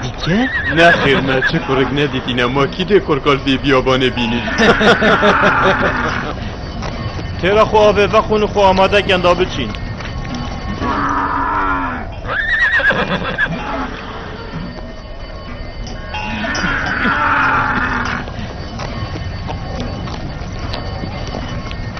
Dîtke? Nexêr me çi kurik nedîtîne ma kî dê korkal vê biyabanê bînî. Têra xwe avê vexwin û xwe amade kin da biçîn.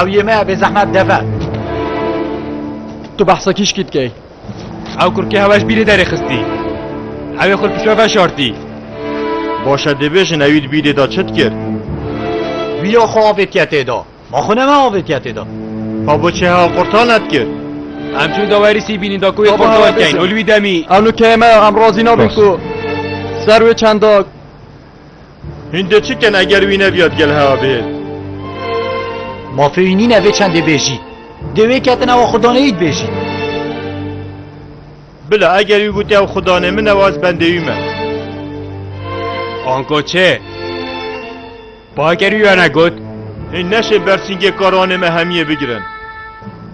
Ew yê me bê zehmet deve. Tu behsa kîşkî dikey. Ew kurkê hewa ji bîrê derê xistî. Ewê xwe pişo veşartî. Başe dibêjin ewî di bîrê de çi dikir? Wîya xwe avê tiye tê de. Ma xwe ne me avê tiye tê de. Ka boçê hewa qurtar nedikir. Em çûn dawerî sîbînîn da ku wê Baba, qurtar keyin. bêjin. Û li wî demî. Ew nûkeyê me em razî nabin Rast. ku ser wê çendak Hûn dê çi kin eger wî nebiya di gel hewa bihêl? Mafê wî nîne vê çendê bêjî. Dê wê ketin ew a Xwedane yî dibêjî. Bila eger wî gotî ew Xwedanê min e û ez bendê wî me. Ango çê? Bager wî wene got. Hûn neşên bersîngê karanê me hemiyê bigirin.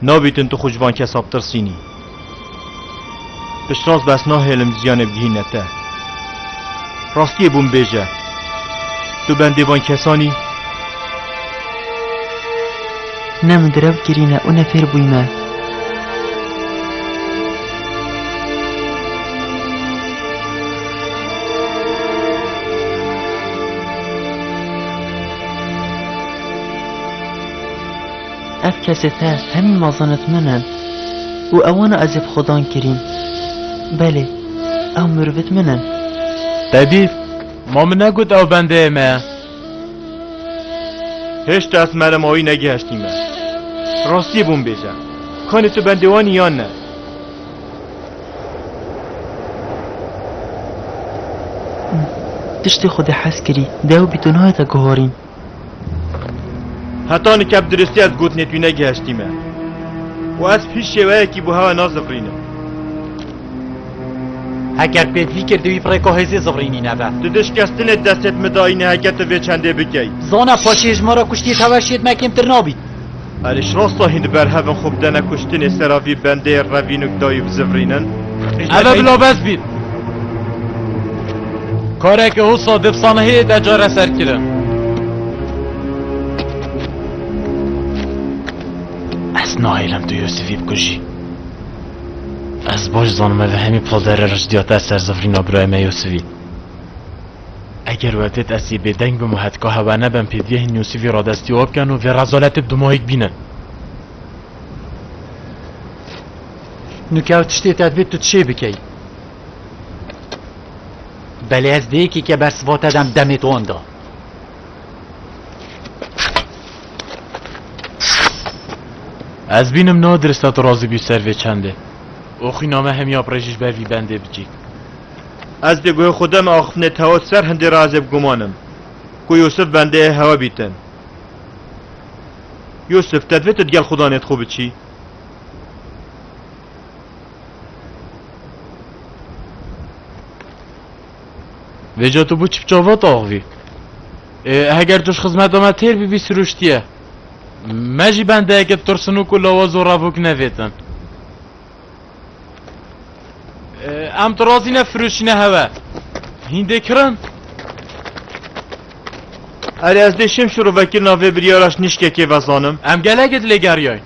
Nabîtin tu xwe ji van kesa bitirsînî. Piştrast bi ez nahêlim ziyanê bigihîne te. Rastiyê bûn bêje. Tu bendê van kesan î. Ne min girev kirîne û ne fêr bûyme. Ev kesê te hemî mazanet min in û ewana ez ê bi xwe dan kirîm. Belê, ew mirivit min in. Tebîb, Ma min negot ew bendeyê me ye. Hêşta ez mere ma wî negihiştîme. Rastiyê bûn bêje. Kanê tu bendê wan î yan ne? Tiştê xwedê hez kirî. Dewbî tu nayê te guharîn. Heta nika bi diristî ez gotinê tu negihiştî me. û ez bi hîç şêweyekî bo hewe nazivrînim. Heger pêt vî kir divî pirêko hêzê zivrînî nebe. Di dişkestinê destê bi min dayîne heke tu vê çendê bikey. Zana paşê ji me re kuştî tev her şiyê di me kêmtir nabît. Erîş Rastahîn di ber hevin xwe bidene kuştinê sera vî bendeyê revînûk da û bizivrînin. Ev e bila bes bîn. Kareke hosa di sanehiyê de careser kirin. Ez nahêlim tu Yûsifî bikujî. Ez baş zanim ev hemî poldere riştîya te ser zivrîna birayê me Yûsifî. Eger we têt ez yê bêdeng bim û hetka hewa nebem pdf nûsî vî radestî û bken û vê rezaletê bi dimoyîk bînin. Nûk ew tiştê te divê tu çê bikey. Belê ez dê yekê ke ber siva te dem demê wan da. Ez bînim na dirista tu razî bî ser vê çendê. Oxîna me hemiya bi rê jî ji ber vî bendê bicîk. Ez dê guhê xwe de me axiftinê tewa ser hindê razê biguman im ku Yûsif bendê ê hewe bîtin. Yûsif, te divê tu digel xudanê xwe biçî. Vêca tu bû çipça vat axivî. Ê, heger tu ji xizmeta me têr bîbî sirûştiye. Me jî bendeyeke tirsnûk û lawa zoravok nevêtin. Em tu razî ne firûşîne heve. Hîndê kirin. Erê ez dê şim şiro vekirina vê biryara ji nişkekê vezanim. Em gelekê dilê geriyayîn.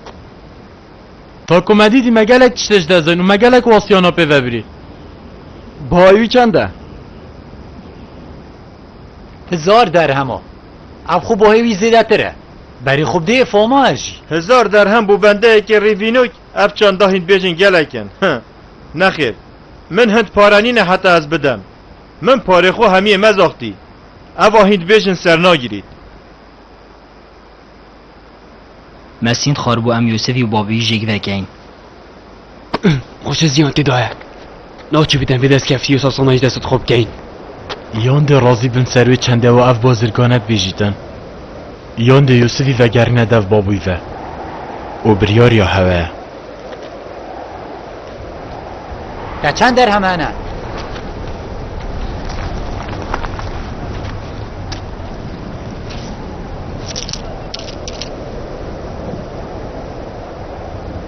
Ta ku me dîtî me gelek tiştê ji dest dayîn û me gelek wasiyana pê vebirî. Bahayê wî çend e? Hizar derhema. Ev xwe bahê wî zêdetir e. Berê xwe bidê fama ez jî. Hizar derhem bo bendeyekê rêvînok? Ev çanda hînbêjên gelek in. Hi. Nexêr. Min hind pare nîne heta ez bidem. Min parê xwe hemiyê me zaxtî. Eva hînbêjin sernagirît. Me sînd xwar bû em Yûsifî û babî jêk vekein. Xweşe ziyan tê daye. Naçî bidem vê destkeftî û sasana ji destê dixwe bikeyin. Yan dê razî bin ser wê çendê we ev bazirgane bibêjîtin, yan dê Yûsifî vegerîne dev babûyî ve. O biryariya hewe ye. Te çend derhem hene?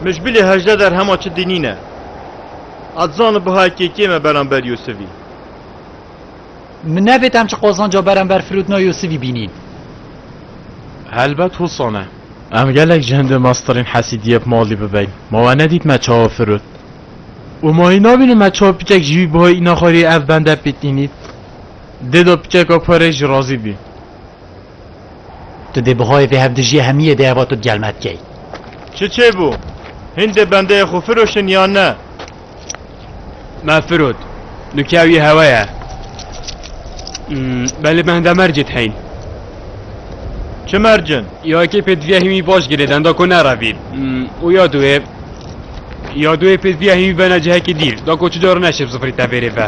Min ji bilê hejde derhema çi dinîne. A dizanî buhaya kêkê me beramber Yûsivî? Min nevêt em çi qazanca beramber Firûdna Yûsivî bînîn. Helbet Hûsan e. Em gelek ji hindê mastirên hesîdiyê bi malî bibein. Ma we nedît me çawa firot. Û ma hîn nabînim me çawa piçek ji wî buhayê înaxariyê ev bende pêt înît. Dêda piçeka xwe rê jî razî bî. Tu dê bihayê vê hevdijîyê hemîyê dê heva tu di gel me dikey. Çi çêbû? Hîn dê bendeyê xwe firoşin yan ne? Me firot. Nûke ew yê hewe ye. Belê bende mercê diheyn. Çi mercin? Ya yekê pêdiviya hîmî baş girê denda ku nerevîn. Û ya duê ya duê pêdiviya hîmî bena cihekî dîr da ku çi cara neşib zifirî tevêrê ve.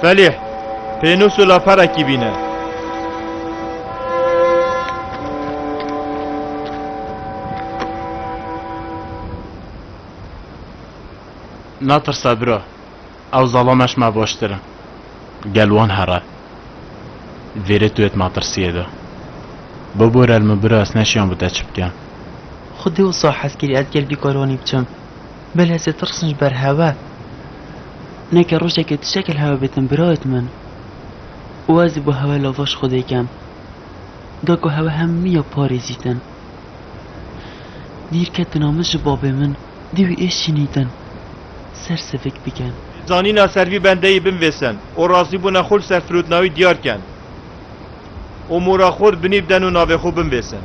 Felîh, pênûs û laperekî bîne. Natirse biro, ew zalameş me baştir in. Gel wan here. Vêrê tu yê di matirsiyê de. Bibore li min biro ez neşiyan bi te çi bikim. Xwedê wisa hez kirî ez gel bîkaranî biçim. Bil ez ê tirsim ji ber hewe. Neke rojekê tu çek li hewe bêtim birayet min. Û ez ê bo hewe lava ji xwe dêkem. Da ku hewe hemiya parêzîtin. Dîr ketina min ji babê min dî wî ê şînîtin. Ser sivik bikin. Zanîna ser vî bendeyî binvêsin û razîbûna xwe li ser firotnawî diyar kin. Û mora xwe di binî biden û navê xwe binvêsin.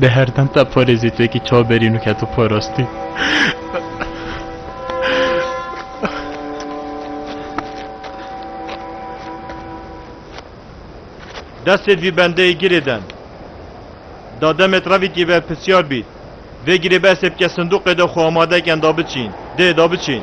Bi herdan ta porê zî tu yekî çaw berîn û keto porastî. Destê vî bendeyê girê den. Da demet revikî ve pisyar bît. Vê girê be sebke sinduqê de xwe amade ken da biçîn. Dê da biçîn.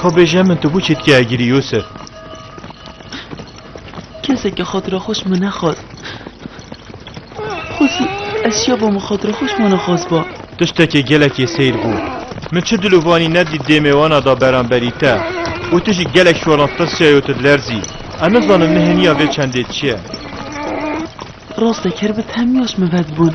Ka bêje min tu bû çîtkeye girî Yûsif. Kesekî xatira xwe ji min nexwest. Xwezî ez şiyaba min xatira xwe ji wan re xwest ba. Tiştekî gelekî seyr bû. Min çi dilovanî nedît dêmê wana da beramberî te û tu jî gelek şolan tirsiyayo tu dilerzî. Ez nizanim nihêniya vê çendê çi ye. Rastekir bi tehmiya ji min ve dibûn.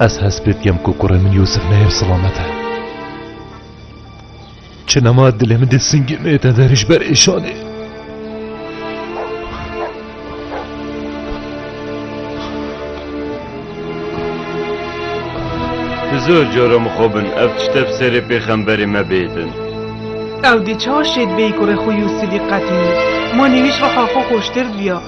Ez hest pê dikem ku kurê min Yûsif neyê bi silamet e. Çi nema dilê min dê singê me te derê ji ber êşanê. Bi zor cara min xwe bin ev tişte bi serê pêxemberê me bêdin. Ew dê çawa şêd bêyî kurê xwe Yûsifî qetî. Ma nêwîş rexa xwe xweştir diya.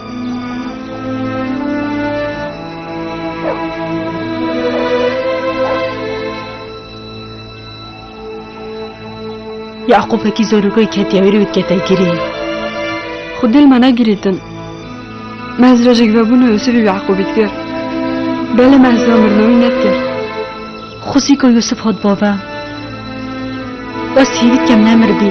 Yaqûbekî zorûgey ketiye wê rê û dikete girê. Xwe dil me negirî din. Mehz rojek vebûne Yûsifî bi Yaqûbî dikir. Belê mehz zira mirina wî nedikir. Xwesî ku Yûsif hat bava. Westî hêvî dikem nemirdî.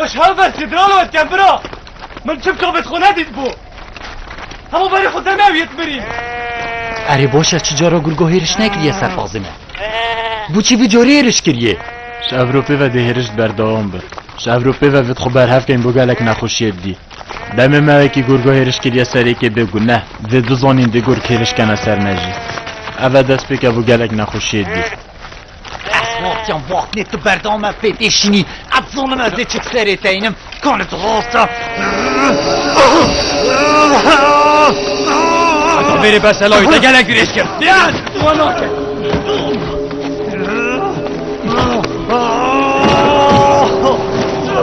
Yaş haber sidralo et kem bira. Min çim kabet xo nedît bû. Hemû berî xo te newî et mirî. Erê boşe çi cara gurgo hêriş nekiriye serfazê me. Bû çi vî corê hêriş kiriye. Ji Ewropê ve dê hêriş berdewam be. Ji Ewropê ve vit xo berhev kein bo gelek nexweşiyê didî. Demê me wekî gurgo hêriş kiriye serêkê bê guneh. Dê bizanîn dê gurg hêriş kene ser me jî. Ev e destpêke bo gelek nexweşiyê didî. Ez vaxtiyan vaxtinê tu berdame pê tê şinî. Ez zanim ez dê çik serê te înim. Kane tu rasta. Heta verê beselayî te gelek dirêj kir. Yan! Wan nake.